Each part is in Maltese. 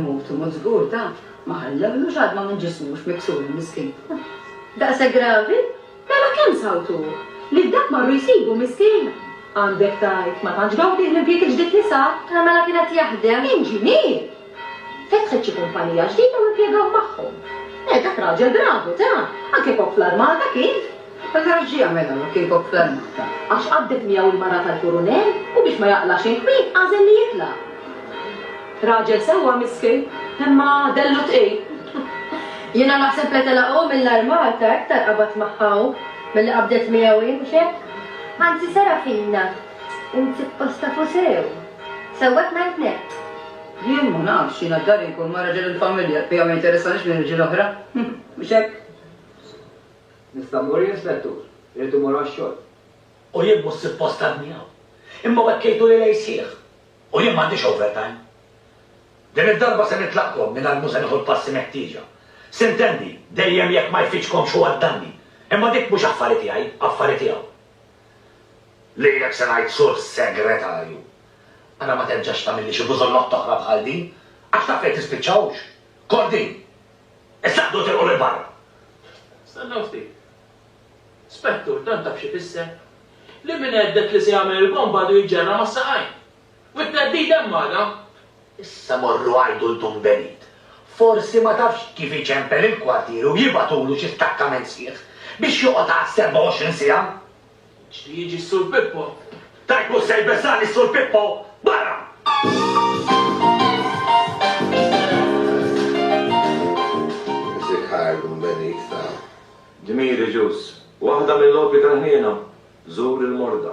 Mutu, mut zgur ta' ma ħallewlux għadma minn ġismux miksur miskin. Daqsa gravi? Mela kemm sawtu? Li dak marru jsibu miskin? Għandek tajt, ma tantx gawdih l-impjieg il-ġdid li sar. Mela kienet jaħdem. Inġinier! Fetħet xi kumpanija ġdida u impjegaw magħhom. Eh, dak raġel bravu, ta! Anke kok fl-armata kien! Mela għax xi jagħmel hawn jekk kien kok fl-armata? Għax qaddef miegħu l-mara tal-kurunell u biex ma jaqlax il-kwiet għażel li jitla'. Raġel sewwa miskin, imma dellu tqil. Jiena naħseb li telaq hu mill-armata iktar qabad magħha hu milli qabdet miegħu hi, mhux hekk? Anzi, Serafina, Int suppost tafu sew. Sewwek ngħid nett. Jien ma nafx, jiena f'dari nkun ma' raġel il-familja, bija ma jinteressanix minn irġiel oħra. Mhux hekk? Nista' mmur jien, Spettur? Irrid immur għax-xogħol. U jien mhux suppost għadni hawn. Imma u hekk jgħidu li lejl sħiħ. U jien m'għandix overtime. Din id-darba se nitlaqkom mingħajr mhu se nieħu l-passi meħtieġa. Sintendi, dejjem jekk ma jfittxkomx hu għad-danni. Imma dik mhux affari tiegħi, affari tiegħu. Lilek se ngħid Sur Segretarju, ara ma terġax tagħmilli xi bużollotta oħra bħal din, għax taf fejn tispiċċa hux? Kordin! Issa ħdu tilqu lil barra! Stennew ftit. Spettur, dan taf x'ifisser? Li min għeddek li se jagħmel il-bomba għadu jiġġerra mas-saqajn! U t-theddid hemm magħna! Issa morru għajdu 'l Dun Benit. Forsi ma tafx kif iċempel il-kwartieri u jibagħtulu xi stakkament sħiħ biex joqgħod għal 27 siegħa! Jixtieq jiġi s-Sur Pippo. Tajb mhux se jbeżżagħni s-Sur Pippo! Barra! Music Hire Dun Benit ta. Dmiri Ġus. Waħda mill-opri tal-ħniena, Żur il-morda.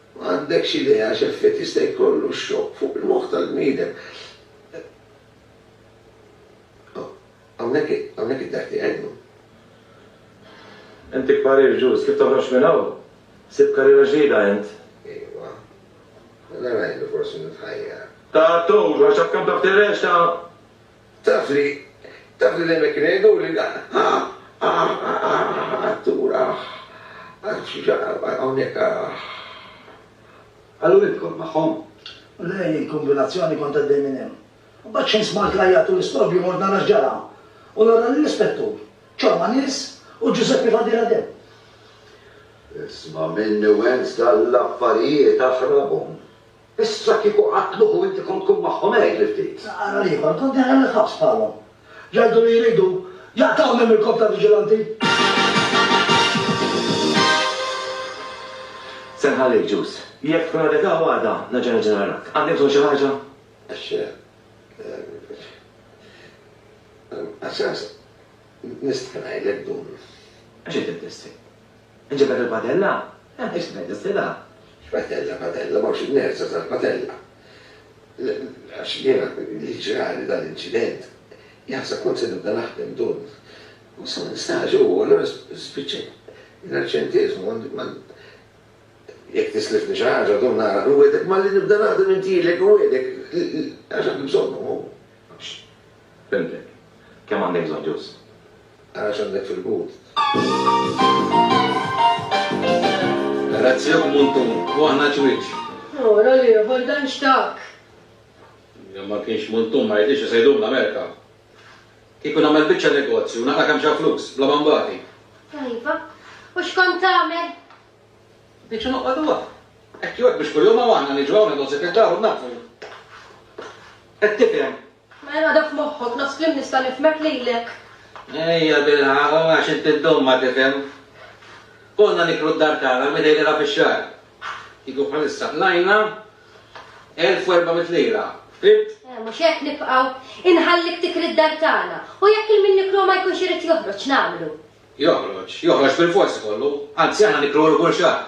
M'għandekx idea x'effett jista' jkollu x-xokk fuq il-moħħ tal-bniedem. Hawnhekk hawnhekk id-daħk tiegħi llum. Inti kparir Ġuż, kif toħroġ minn hawn? Sibt karriera ġdida int? Iwa. Mela ngħidu forsi nitħajjar. Ta' Toad, għax taf kemm taf tirreċta? Taf li, taf li dejjem hekk kienu jgħiduli, Artur, aħ, hawnhekk, aħ. Qallu idħol magħhom. U lei, il-kombinazzjoni kont għaddej minn hemm. Imbagħad xejn smajt l-għajjat u l-istrobju mort nara x'ġara. U nara lill-Ispettur, ċorma nies u Ġużeppi f'għadira demm. Isma' minni u ens dallaffarijiet aħrabhom. Issa kieku qatluh u inti kont tkun magħhom għidli ftit. Ara l-ieħor, kont daħal il-ħabs bħalhom. Jgħidu li jridu jaqtgħuni mill-korp ta' viġilanti. Se nħallik, Ġus. Jekk tkun għadek hawn għada, nerġa' niġi narack. Għandi bżonn xi ħaġa? X'se? Għas-sens, nista' ngħidlek dun. Għax inti bdesti? Inġibed il-padella? Eh, ixtieqek tiżtilha? X'padella, padella, m'hawnx inerza tal-padella. Għax jiena li ġrali dan l-inċident, jaħseb kont se nibda naħdem dun. U sa ma nistax u allura spiċċajt l-arċentiżmu għandi ma jekk tislifni xi ħaġa dun nara nwiegħdek malli nibda naħdem intilek nwiegħdek għax għandi bżonnhom hu. Fimtek. Kemm għandek bżonn ġust? Ara x'għandek fil-but. Razzjak Muntu, u aħna ċwieċ. Oh, rol ieħor dan x'tak! Jekk ma kienx Muntu ma jridx isejdu l-Amerika. Kieku nagħmel biċċa negozju, naqra' kemm xa flus, bla ma nbati. Iva, u x'kont tagħmel? Diġa noqgħodu hawn. Hekk jew hekk biex kuljum hawn aħna niġu hawn negozju fid-dar u nnaddfu. Qed tifhem? Mela għadha f'moħħok, nofs kliem nista' nifhmek lilek. Ejja bilħaq, u għax inti ddum ma tifhem. Konna niklu d-dar tagħna l-mitej lejla fix-xahar. Kieku bħalissa qlajna elf u erba' mitt lira. Fhimt? Eh, mhux hekk nibqgħu. Inħallik tikri d-dar tagħna. U jekk il-min nikluha ma jkunx irid joħroġ, x'nagħmlu? Joħroġ, joħroġ bilfors ikollu. Anzi aħna nikluh kull xahar.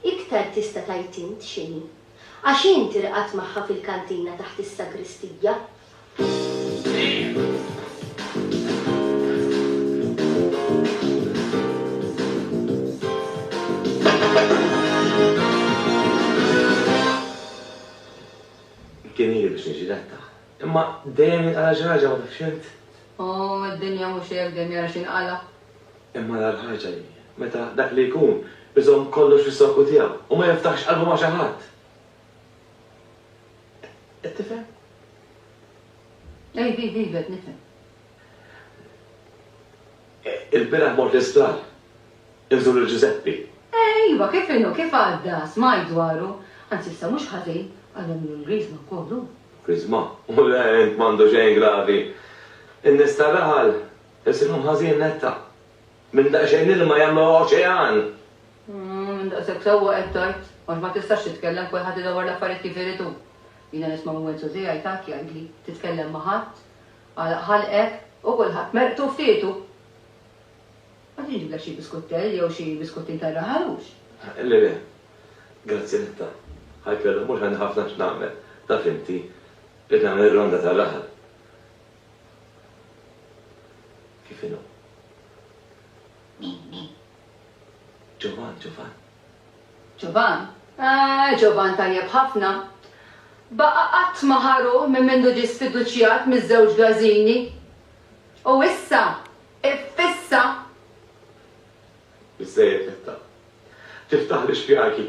Iktar tista' tgħid int x'inhi. Għax int irqadt magħha fil-kantina taħt is-sagristija. Kien ili biex niġi letta. Imma dejjem jinqala' xi ħaġa ma tafx int? Ohh, id-dinja mhux hekk, dejjem jara x'jinqala'. Imma l-agħar ħaġa hi meta dak li jkun iżomm kollox fis-sokku tiegħu u ma jiftaħx qalbu ma' xi ħadd. Qed tifhem? Iva, iva, iva, qed nifhem. Il-bieraħ mort l-isptar. Inżur lil Ġużeppi. Iva, kif inhu, kif għadda? Smajt dwaru. Anzi, issa mhux ħażin, għadhom ilu l-griżma wkoll hu. Griżma? U le, int m'għandu xejn gravi. In-nies tar-raħal Isibhom ħażin netta. Minn daqsxejn ilma jagħmluha oċean! Umm, minn daqshekk sewwa qed tgħid, għax ma tistax titkellem, kulħadd idawwar l-affarijiet kif irid hu. Jiena nisma' minn Wenzu tiegħi tgħid jgħidli, titkellem ma' ħadd, għalaq ħalqek, u kulħadd merqtu u ftitu! Qed inġiblek xi biskuttell jew xi biskuttinn tar-raħal, hux? Le, le. Grazzi netta. Ħajt l-għada mhux għandi ħafna x'nagħmel, taf inti, irrid nagħmel ir-ronda tar-raħal. Kif inhu? Ġovan, Ġovan. Ġovan? Eh, Ġovan tajjeb ħafna. Baqa' qatt ma ħaru minn mindu ġie sfiduċjat miż-żewġ Gażini. U issa, iffissa. Biżżejjed netta. Tiftaħ l-ixfjaqi.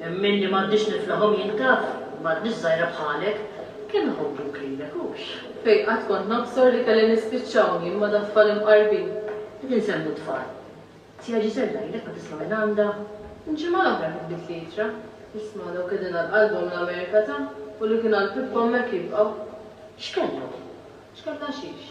Hemm min li m'għandix niflahom jintaf ma' tnix żgħira bħalek. Kemm iħobbuk lilek, hux? Fejn qatt kont nobsor li kelli nispiċċaw jien ma' da' tfal imqarbin. Qed insemmu tfal. Zija Ġiżella ilek ma tisma' minn għandha? Il-ġimgħa l-oħra kitbitli ittra. Isma' dawk qegħdin għal qalbhom l-Amerika ta' u li kien għal pippa hemmhekk jibqgħu. X'kellhom? X'kellha xiex?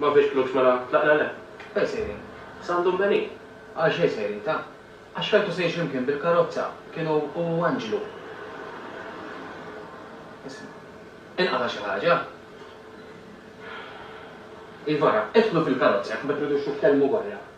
Ma fiex flus mela tlaq l-għalef. Fejn sejrin? San Dumbenin. Għal xejn sejrin ta? Għax keltu sejr x'imkien bil-karozza. Kienu hu u Anġlu. Isma'. Inqata' xi ħaġa? Iva ra, idħlu fil-karozza jekk ma tridux titkellmu barra.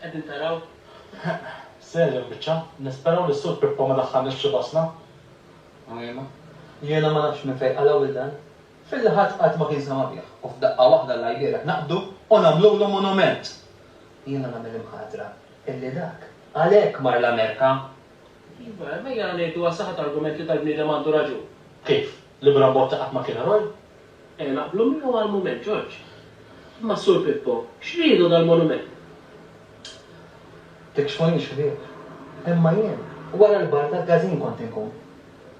Qegħdin taraw? Serja l-biċċa. Nisperaw li s-Sur Pippo ma daħħalniex f'xi basna. Għajnejna. Jiena ma nafx minn fejn qalgħu lil dan. Filli ħadd qatt ma kien sema' bih. U f'daqqa waħda l-għajlielek naqbdu u nagħmlulu monument! Jiena nagħmel imħatra illi dak għalhekk mar l-Amerika. Iva, ejja ngħidu għas-saħħa ta' argument li dal-bniedem għandu raġun. Kif? Li Bram Botta qatt ma kien eroj? Ejja naqblu miegħu għal mument, Ġorġ. Imma s-Sur Pippo, x'ridu dal-monument? Tikxfu jien x'ried. Imma jien, wara l-bar tal-każin kont inkun.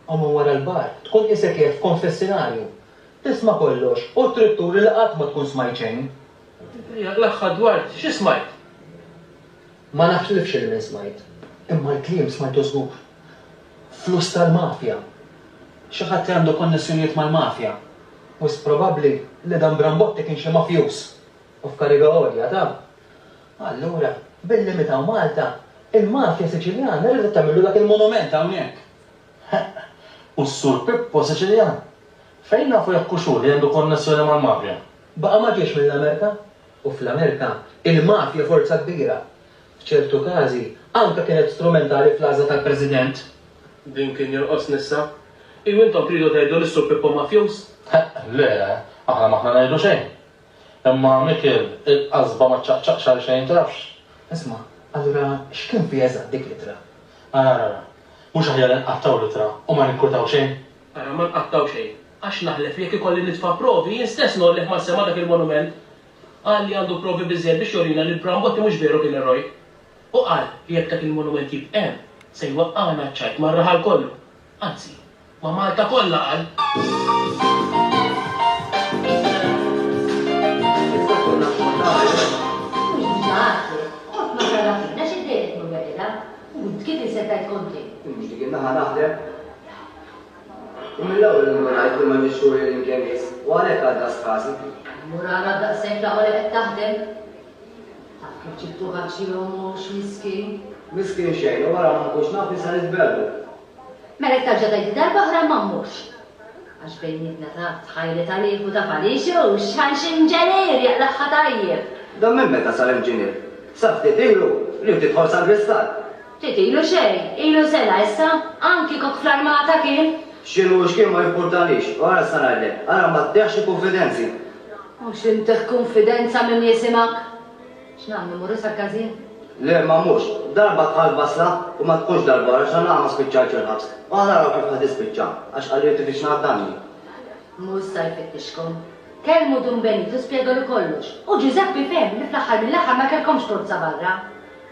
U minn wara l-bar, tkun qisek qiegħed f'konfessinarju. Tisma' kollox u trid turi li qatt ma tkun smajt xejn. Ejja, l-aħħar dwar xi smajt? Ma naħlifx x'inhi min smajt, imma l-kliem smajtu żgur. Flus tal-mafja! Xi ħadd li għandu konnessjonijiet mal-mafja. Wisq probabbli li dan Brambotti kien xi mafjuż u f'kariga għolja ta'. Allura, billi mitaw Malta, il-mafja Siċiljana ridet tagħmillu dak il-monument hawnhekk. Ħeqq! U s-Sur Pippo Siċiljan? Fejn nafu jekk hux hu li għandu konnessjoni mal-mafja? Baqa' ma ġiex mill-Amerika? u fl-Amerika, il-mafja forza kbira. F'ċertu każi, anke kienet strumentali fl-għażla tal-President. Din kien jonqosni issa. Iju intom tridu tgħidu li s-Sur Pippo mafjuż? Le, aħna m'aħna ngħidu xejn. Imma Mikiel, il-qasba ma ċċaqċaqx għal xejn, tafx. Isma', allura x'kien fiha eżatt dik l-ittra? Ara, ara, mhux aħjar inqattgħu l-ittra u ma ninkwetaw xejn? Ara, ma nqattgħu xejn, għax naħlef li jekk ikolli nitfa' provi, jien stess ngħollih mas-sema dak il-monument. Qal li għandu provi biżżejjed biex jurina li l-Brambotti mhux veru kien eroj. U qal li jekk dak il-monument jibq' hemm, se jwaqqagħna ċ-ċajt mar-raħal kollu, anzi, ma' Malta kollha, qal. U mill-ewwel indunajt li m'għandix turi lil imkien biss, u għalhekk għal daqs ħasib. Murara daqshekk laqgħa li qed taħdem. Taf kif ġibtu ħaġġi ommu, x'miskin. Miskin xejn, u wara ma nkunx naf li se nitbellu. Mela jekk tarġa' tgħidli darba oħra ma mmurx. Għax bejnietna taf, tħajli tal-ieħ u ta' Falixux, għal xi inġenier jaqlagħha tajjeb. Dan minn meta sar inġinier? Sa ftit ilu, li hu tidħol sal-Gristall. Ftit ilu xejn, ilu sena issa, qam kieku fl-armata kien. X'inhu u x'kien ma jimpurtalix. U ara issa ngħidlek, ara ma tteħħx il-kunfidenzi. Mhux inteħħ kunfidenza min jisimak. X'nagħmlu, mmorru sal-każin? Le, ma mmurx. Darba tħall f'basla, u ma tkunx darba oħra għax għalnaqas ma spiċċajtx il-ħabs. U ħa naraw kif ħa tispiċċa, għax qalli li tifittxna għad-danni. Mhu issa jfittixkom. Kellmu Dun Benitu spjegalu kollox, u Ġużeppi fehem li fl-aħħar mill-aħħar ma kellkomx forza barra.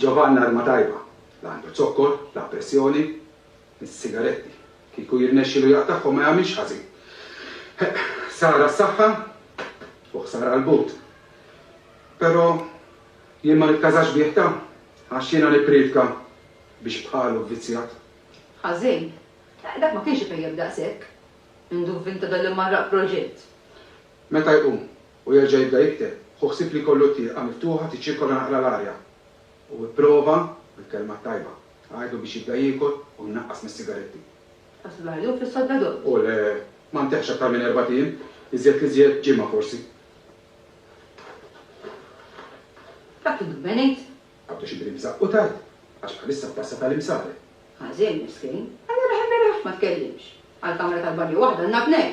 Ġabanna ilma tajba, la għandu zokkor, la pressjoni. Is-sigaretti, kieku jirnexxilu jaqtagħhom ma jagħmilx ħażin. Heq, ħsara s-saħħa u ħsara l-but. Però jien ma nitkażax bih ta' għax jiena nippriedka biex bħalu vvizzjat. Ħażin? Heq, dak ma kienx ipejjep daqshekk. Induvvinta dan l-immarraq proġett. Meta jqum, U jerġa' jibda jikteb, hu ħsieb li jkollu t-tieqa miftuħa tiċċirkola naqra l-arja. Hu ipprova, bil-kelma t-tajba, għidlu biex jibda jiekol u jnaqqas mis-sigaretti. Ħass li ħajdumu fis-soddadott. U le, ma ntehhx aktar minn erbat ijiem, iżjed l-iżjed ġimgħa forsi. Dak li dubben għid. Għaddu xi brim żaqqu tard, għax bħalissa t-tassa tal-imsare. Ħażin, miskin. Allura ħa beraħ ma tkellimx. Għall-kamra tal-banju waħda għandna tnejn.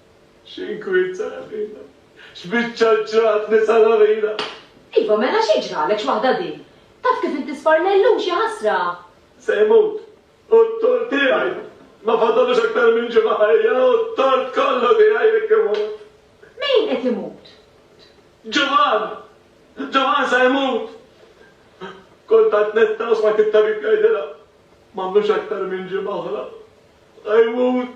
X'inkwiet sara fina. X'biċċa ġratni sara fina. Iva mela xi ġralek x'waħda din. Taf kif inti sfarna llum xi ħasra. Se jmut. U t-tort tiegħi. Ma fadallux aktar minn ġimgħa ħajja u t-tort kollu tiegħi jekk imut. Min qed imut? Ġovan! Ġovan se jmut. Kont għad netta u smajt it-tabib jgħidilha. M'għandux aktar minn ġimgħa oħra. Se jmut.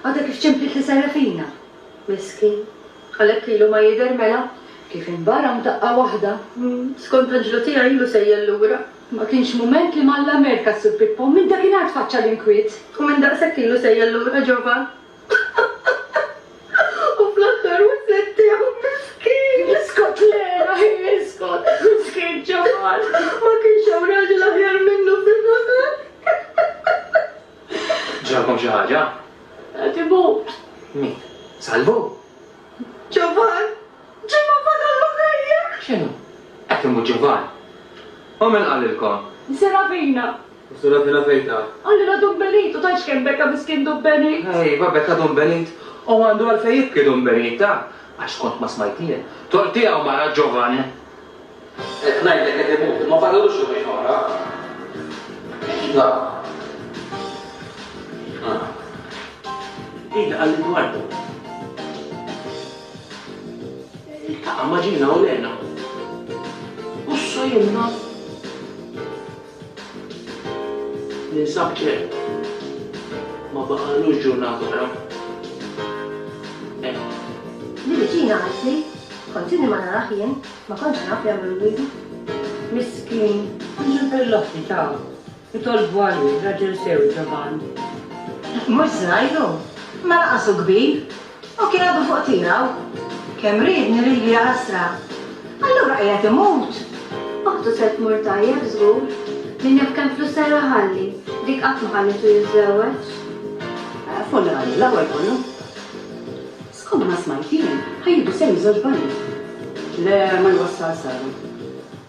Għadha kif ċemplit li Serafina. Miskin. Għalhekk ilu ma jidher mela, kif inbara f'daqqa waħda. Skont anġlu tiegħi ilu sejjel lura. Ma kienx mument li m'Alla merka s-Sur Pippo, minn dakinhar tfaċċa l-inkwiet. U minn daqshekk ilu sejjel lura Ġovann. U fl-aħħar waslet tiegħu. Miskin! Iskot Lena, hi iskot! Miskin Ġovann! Ma kienx hawn raġel aħjar minnu f'din l-aħħar. Ġralkom xi ħaġa? Qed imut. Min? Salvu? Ġovan! Ġovan fadallu ħajja! X'inhu? Qed imut Ġovan? U min qalilkom? Serafina. U Serafina fejn ta? Qalilha Dun Benit, u tgħidx kemm beka miskien Dun Benit! Ejwa, beka Dun Benit, u għandu għalfejn jibki Dun Benit, ta? Għax kont ma smajt jien. Toqtiegħu mara Ġovan! Qed ngħidlek qed imutu, ma fadallux jumejn oħra. Iva. Iva. Ejja għal Edwardo. Iltaqa' ma' Ġina u Lena. U s-sojunna. Ninsab ċert, ma baqalux ġurnata oħra. Hekk. Li viċina għal Sir, kont inni ma narah jien, ma kontx naf jagħmlu l-gwidi. Miskin, mhux il-perlotti ta' jitolbu għalih, raġel sew ġoban. Mhux żgħir hu, ma laqas hu kbir, U kien għadu fuq tiegħu. Kemm riedni lili jaħasra! Allura qiegħed imut! Oħtu se tmur tajjeb żgur. Min jaf kemm flus ser iħalli. Dik qatt ma ħallitu jiżżewweġ. Funerali l-ewwel kollu. Skond ma smajt jien ħajjieħdu sehem żewġ banjiet. Le ma jwassal sehem.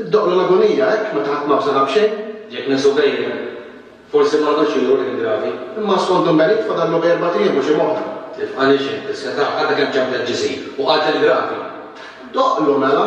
Iddoqlu l-agunija hekk meta ħadd ma bżonha b'xejn? Jekk nesu bejna, forsi ma għadux idur ħin gravi. Imma skont Dun Benit fadallu bejn erbat ijiem u xi moħħ. Tifqanix int, is-setgħa għadha kemm ċemplet ġisir u qatel gravi. Doqlu mela!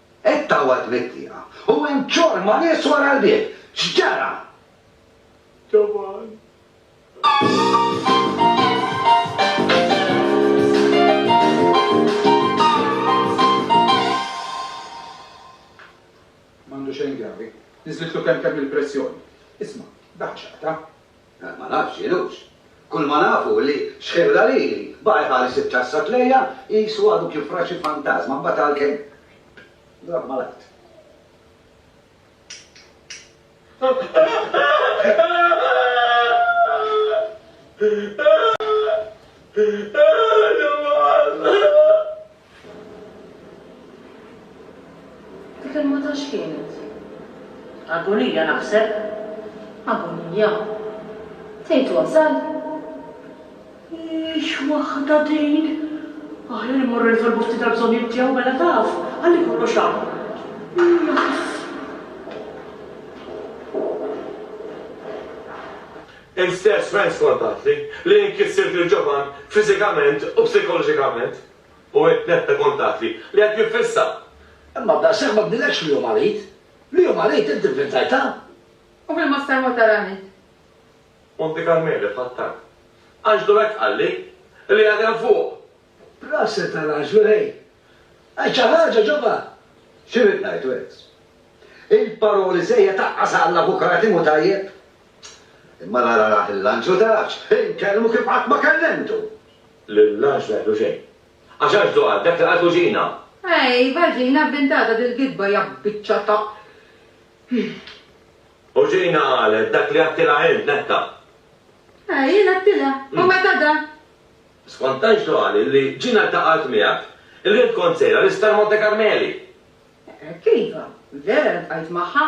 Qed tgħawwad mit-tieqa u hemm ċorma nies wara l-bieb! X'ġara? Ġavan. M'għandu xejn gravi. Niżlitlu kemkemm il-pressjoni. Isma', dak x'aqta'? Għad ma nafx x'inhux. Kull ma naf hu li xħebla lili, baqa' jħares iċ-ċassa tlejja qisu għadu kif ra xi fantażma mbagħad għalkemm drapp mal-art. Dik il-mata x'kienet? Agonija naħseb. Agonija? Tgħid wasal? Hix waħda din! Aħjar immorru nitolbu ftit għall-bżonnijiet tiegħu mela taf, ħalli kollox hawn. Naf. Int stess Frank skontatli li jien kissirt lil Ġovann fiżikament u psikoloġikament. u hekk tnetta kuntatti li qed jiffissa. Imma b'daqshekk ma bnilekx li hu marid. Li hu marid int ivvintajtha. U fil-Master Mota Ranet. Monte Carmele f'Qattan. Anġlu hekk qalli, li qiegħed hemm fuq. Proset għal Anġlu ħej. Għid xi ħaġa ġobha. X'irid ngħid wis. Il-paroli żejjed taqqas għall avukati mhu tajjeb. Imma nara l-Anġlu tafx, inkellmu kif qatt ma kellimtu. L-irlanġ ma jgħidlu xejn. Għax Anġlu qal dak li qaltu Ġina! Ejva Ġina vvintata dil-gidba ja biċċa ta'. U Ġina qalet dak li għedtilha int, Netta! Ej, jien għedtilha! U meta da. Skont Anġlu qal li Ġina ltaqgħet miegħek, li int kont sejra l-Isptar Monte Karmeli! Hekk iva, vera ltqajt magħha.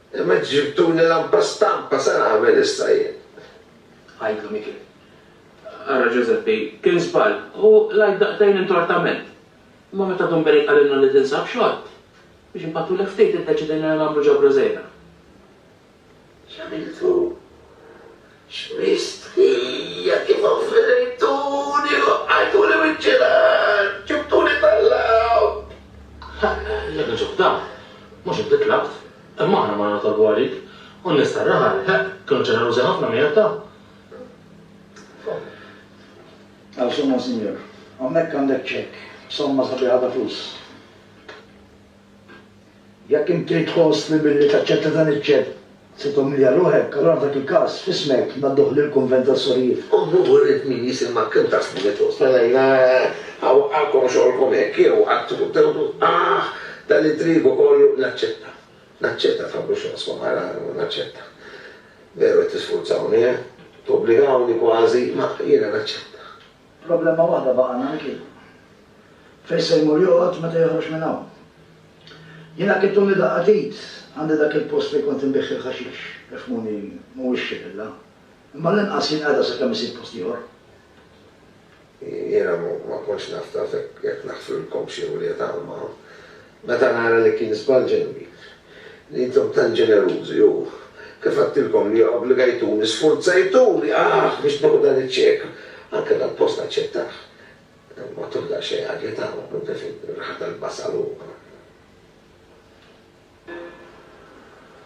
Imma int ġibtuli lampa stampa, se nagħmel issa jien? Għidlu Mikiel. Ara Ġużeppi, kien żball, u l-għajt daqtejn intortament. Imma meta Dun Berik qalilna li tinsab xogħol, biex npattulek ftit iddeċidejna li nagħmlu ġabra żgħira. X'għamiltu? X'mistħija kif offendejtuni li waqqajtuli wiċċi l-art, ġibtuli tal-lgħob! Ħa, jekk niġu f'dan, mhux int li tlabt, imma aħna morna nitolbu għalik, u n-nies tar-raħal, ħa, kienu ġenerużi ħafna miegħek, ta. Għal x'imma, Sinjur. Hawnhekk għandek ċekk b'somma sabiħa ta' flus. Jekk inti tħoss li billi taċċetta dan iċ-ċekk se tumilja ruħek, allura f'dak il-każ, f'ismek, ngħadduh lill-Kunvent tas-Sorijiet. Ommu wriet min hi Simma kemm ta' snin li tħossha lejna, ha waqqagħkom xogħolkom hekk jew qattgħu quddejhom tgħidu, Aħ, dan it-trigu kollu! Naċċetta. Naċċetta, tħabbru x'raskom, ara, naċċetta. Veru qed tisfurzawni, eh? Tobbligawni kważi, ma jiena naċċetta. Problema waħda baqgħna Micky. Fejn se jmur joqgħod meta joħroġ minn hawn? Jiena kittuni daqqa t'id għandi dak il-post fejn kont inbigħ il-ħaxix, ifhmuni mhuwiex xi villa, imma għall-inqas jien qegħda sakemm isib post ieħor. Jiena ma kontx naf taf jekk naħfrilkomx jew le talma. Meta nara li kien żball ġenwi, li intom tant ġenerużi u, kif għedtilkom li obbligajtuni, sfurzajtuni, aħ, biex nieħu dan iċ-ċek, anke dal-post aċċettah, matul daqsxejn agitaw, anke fir-riħa tal-basal u.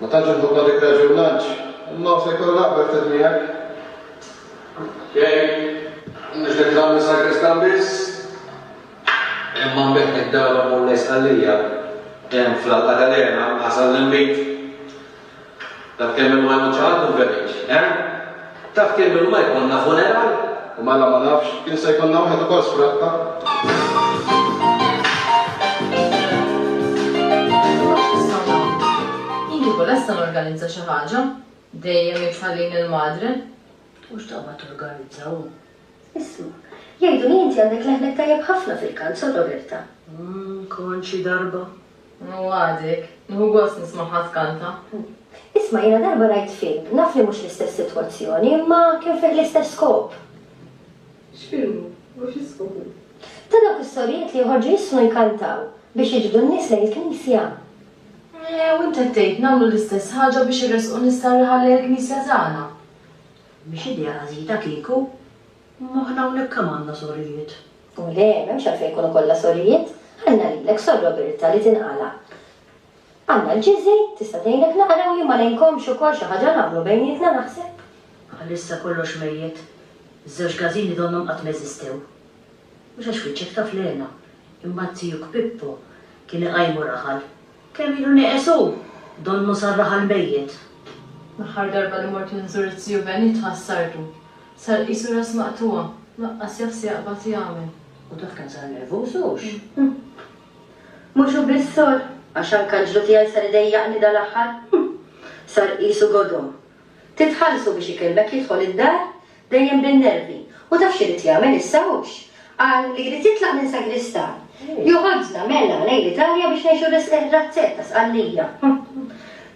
Ma tantx inħobb nagħtik raġun Lanċ, imma hu se jkollu l-akbar ftit miegħek. Xejn, mhux nitlaq mis-Sagristan biss, imma nbigħ mid-dawra mmur lejn Sqallija, hemm fl-Alqa ta' l-Għena, ħasal li nbit. Taf kemm ilu ma jmut xi ħadd u nverriġ, eh? Taf kemm ilma jkollna funeral? U mela ma nafx, kien se jkollna wieħed ukoll Jien kieku lesta norganizza xi ħaġa, dejjem hi tħallini l-madre. U x'taqbad torganizza hu? Isma', jgħiduli inti għandek leħnek tajjeb ħafna fil-kant, Sor Roberta. Hm, kont xi darba. U għadek. Nieħu gost nismagħha tkanta. Isma' jiena darba rajt film, naf li mhux l-istess sitwazzjoni, imma kien fih l-istess skop. X'film hu? U xi skop hu? Ta' dawk is-sorijiet li joħorġu jissnu jkantaw biex jiġbdu n-nies lejn il-knisja. U int qed tgħid nagħmlu l-istess ħaġa biex iressqu nies tar-raħal lejn il-knisja tagħna? Mhix idea għażiża kieku. Imma aħna hawnhekk kemm għandna sorijiet? U le, m'hemmx għalfejn ikunu kollha sorijiet. Ħallna lilek, Sor Roberta, li tinqala'. Għandna l-Ġiżi, tista' tgħinek naqra u jien ma ngħinkomx ukoll xi ħaġa nagħmlu bejnietna naħseb. Bħalissa kollox mejjet. Iż-żewġ każini donnhom qatt ma eżistew. Mhux għax wiċċek taf l-hena, imma t-tijuk Pippo kien iqajmu raħal. Kemm ilu neqes hu, donnu sarraħ għall-mejjet. L-aħħar darba li mort inżur iz-ziju Bennie tħassartu. Sar qisu ras maqtugħa, laqqas jaf se jaqbad jagħmel. U taf kemm sar nervuż hux? Mhux hu biss sor, għax anke l-ġlu tiegħi sar idejjaqni dal-aħħar. Sar qisu godom. Titħallsu biex ikellmek jidħol id-dar, Dejjem bin-nervi. U taf x'irid jagħmel issa hux? Qal li jrid jitlaq minn sagristan. Joħodna, mela, lejn l-Italja biex ngħixu r-razzett ta' Sqallija.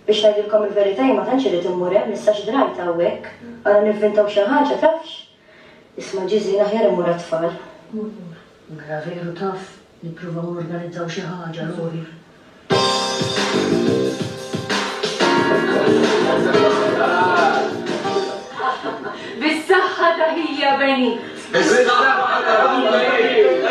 Biex ngħidilkom il-verità jien ma tantx irrid immur hemm issa x'drajt hawnhekk. Ara nivvintaw xi ħaġa, tafx? Isma' Ġiżin aħjar immur għat-tfal. Mela veru taf. Nippruvaw norganizzaw xi ħaġa Bis-saħħa ta' ħija Benit! Bis-saħħa ta' ħija Benit!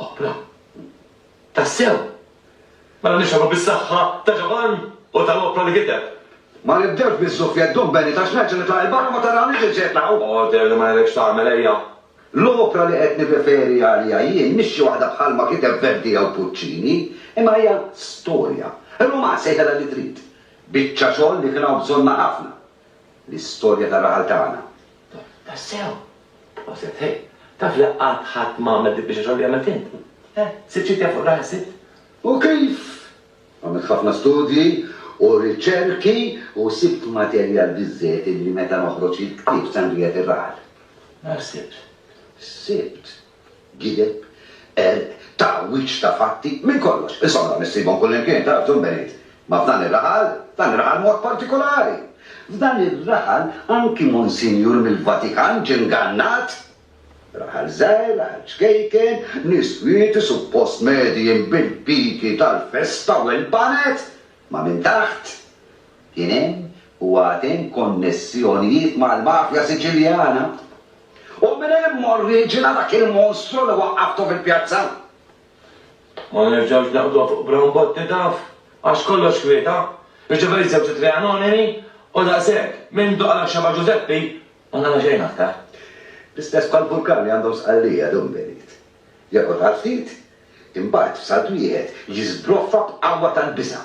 Oħra. Tassew! Mela nixhadu bis-saħħa ta' Ġovann u tal-qopra li kiteb. Ma nibdewx biz-zuffjett dum Benit għax nerġa' nitlaq 'il barra ma tarawniex li ġejt naqgħu! Order li ma jridx tagħmel ejja! L-opra li qed nirreferi għaliha jien mhix xi waħda bħalma kiteb Verdi jew Puccini, imma hija storja. Ruman sejħilha li trid. Biċċa xogħol li kien hawn bżonnha ħafna. L-istorja tar-raħal tagħna. Tassew! Proset, ħej! Taf li qatt ħadd m'għamel dik biex ix-xogħol li għamilt int? Eh, sitt xi tja fuq raħel sitt? U kif! Għamilt ħafna studji u riċerki u sibt materjal biżżejjed illi meta noħroġ il-ktieb Sangria tir-Raħal. Nara sibt. Sibt. gideb, qerq, tagħwiġ ta' fatti, minn kollox. Insomma, issibhom kullimkien, taf, Dun Benit. Ma f'dan ir-raħal, f'dan ir-raħal b'mod partikulari. F'dan ir-raħal anki Monsinjur mill-Vatikan ġie ngannat. Raħal żgħir, raħal ċkejken, nies kwieti, suppost medijin bil-piki tal-festa u l-baned. Ma minn taħt, Kien hemm u għad hemm konnessjonijiet mal-mafja Siċiljana. U minn hemm oriġina dak il-monstru li waqqaftu fil-pjazza. Ma nerġgħux naqbduha fuq Brown Botti taf, għax kollox kwieta, jiġifieri żewġ ittri anonimi u daqshekk, mindu qala x-xebgħa Ġużeppi, ma qala xejn aktar. L-istess bħal Burkan li għandhom Sqallija, Dumbelit. Joqgħod għal ftit, imbagħad f'salt wieħed jiżbroffa b'qawwa tal-biża'.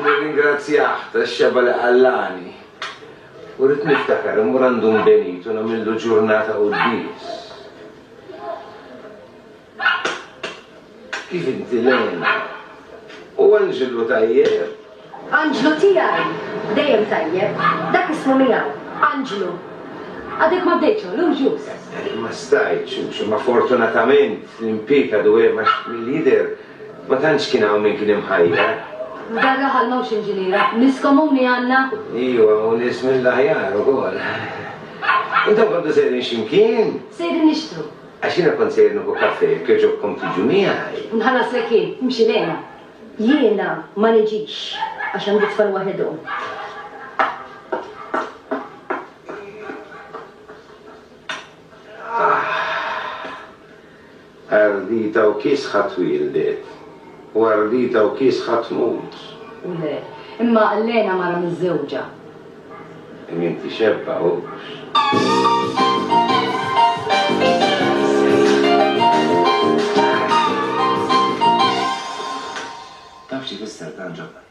Nirringrazzjah tax-xebgħa li qallagħni u rrid niftakar immur għand Dun Benito u nagħmillu ġurnata quddies. Kif inti Lena? U Anġlu tajjeb? Anġlu tiegħi! Dejjem tajjeb. Dak ismu miegħu. Anġlu. Għadek ma bdejtx illum ġust. Ma stajtx, imma fortunatament l-impieg għadu hemm għax mill-jidher Ma tantx kien hawn min kien imħajjar. F'dan raħal m'hawnx inġiniera. Nies komuni għandna. Iva, u nies mill-aħjar ukoll. Intom kontu sejrin xi mkien? Sejrin nixtru. Għax jiena kont sejjer nieħu kafè, jekk jogħġobkom tiġu miegħi. Nħallaslek jien, imxi lejna. Jiena ma niġix, għax għandi t-tfal waħidhom. Aħ. Ardita u kiesħa twieldet, u ardita u kiesħa tmut. U le. Imma Lena mara miżżewġa. E min tixebba hux. Taf x'ifisser dan, Ġabar?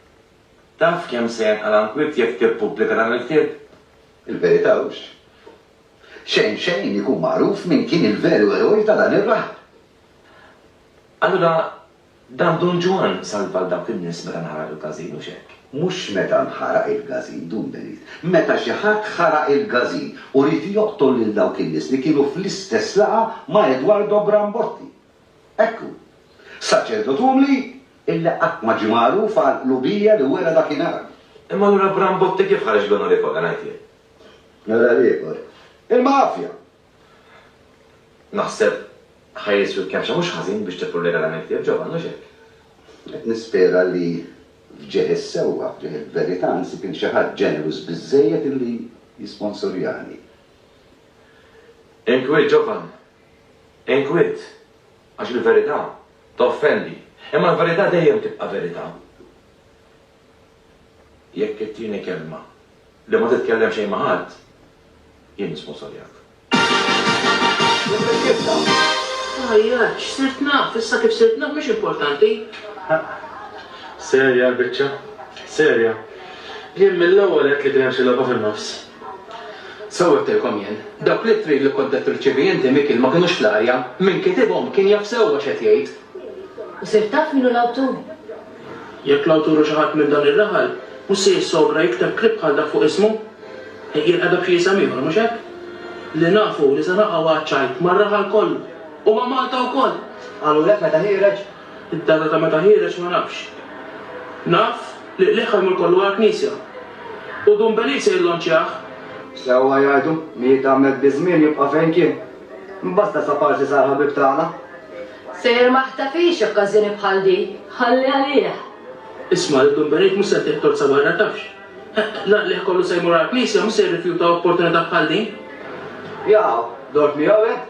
Taf kemm se jenqala' nkwiet jekk tippubblika dan il-ktieb? Il-verità hux Xejn xejn ikun magħruf min kien il-veru eroj ta' dan ir-raħal. Allura dan Dun Ġwann salva lil dawk in-nies meta nħaraq il-każin, hux hekk? Mhux meta nħaraq il-każin, Dun Benit. Meta xi ħadd ħaraq il-każin u ried joqtol lil dawk in-nies li kienu fl-istess laqgħa ma' Edwardo Brambotti. Hekk hu. Saċerdot umli illi qatt ma ġie magħruf għall-qlubija li wera dakinhar. Imma allura Brambotti kif ħareġ l-onorevoli, ngħid jien? Nara l-ieħor. Il-mafja! Naħseb ħa jiswi kemxa mhux ħażin biex tippurlera dan il-ktieb, Ġovann, hux hekk? Qed nispera li f'ġieħ is-sewwa, f'ġieħ il-verità, nsib il xi ħadd ġenerus biżżejjed li jisponsorjani. Inkwiet, Ġovann. Inkwiet. Għax il-verità toffendi. Imma l-verità dejjem tibqa' verità. Jekk it-tieni kelma, li ma titkellem xejn ma' ħadd, jien nisponsorjak. Tgħajjatx, sirt naf, issa kif sirt naf mhix importanti. Serja l-biċċa? Serja? Jien mill-ewwel għedt li kien hemm xi logħba fin-nofs. Sew għedtilkom jien, dawk l-ittri li kont qed tirċievi inti Mikiel ma kinux fl-arja, min kitibhom kien jaf sewwa x'qed jgħid. U sirt taf min hu l-awtur? Jekk l-awtur hu xi ħadd minn dan ir-raħal, mhux se jissogra jikteb klieb bħal dak fuq ismu? Jirqedha b'xi isem ieħor, mhux hekk? Li nafu hu li se naqgħu għaċ-ċajt mar-raħal kollu u ma' Malta wkoll! Qalulek meta ħiereġ? Id-data ta' meta ħiereġ ma nafx. Naf li qligħ ħajmur kollu għall-knisja. U Dun Beliz se jillonċjah! Sewwa jgħidu, Miet Ahmed bi żmien jibqa' fejn kien. Imbasta Saparsi sar ħabib tagħna. Sejjer ma ħtafhiex okkażjoni bħal di, ħalli għalih. Isma' lil Dun Benet mhux se jtih tozza barra tafx. L-għaqlieh kollu se jmur għall-Knisja mhux se jirrifjuta opportunità bħal din. Jaqaw, dort miegħu hekk?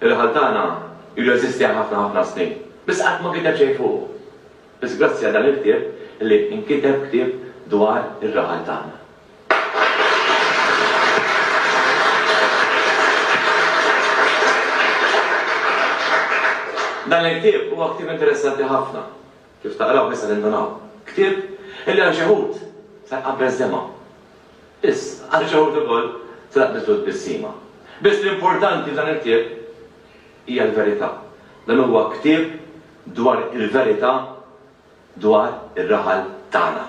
Ir-raħal tagħna ilu jeżisti għal ħafna ħafna snin, biss qatt ma kiteb xejn fuqu. Biss grazzi għal dan il-ktieb li inkiteb ktieb dwar ir-raħal tagħna. Dan il-ktieb huwa ktieb interessanti ħafna, Kif taqraw nista' nindunaw. Ktieb illi għal xi wħud se jqabbes dema'. Biss, għal xi wħud ukoll se taqbiżlu tbissima. Biss l-importanti f'dan il-ktieb hija l-verità. Dan huwa ktieb dwar il-verità dwar ir-raħal tagħna.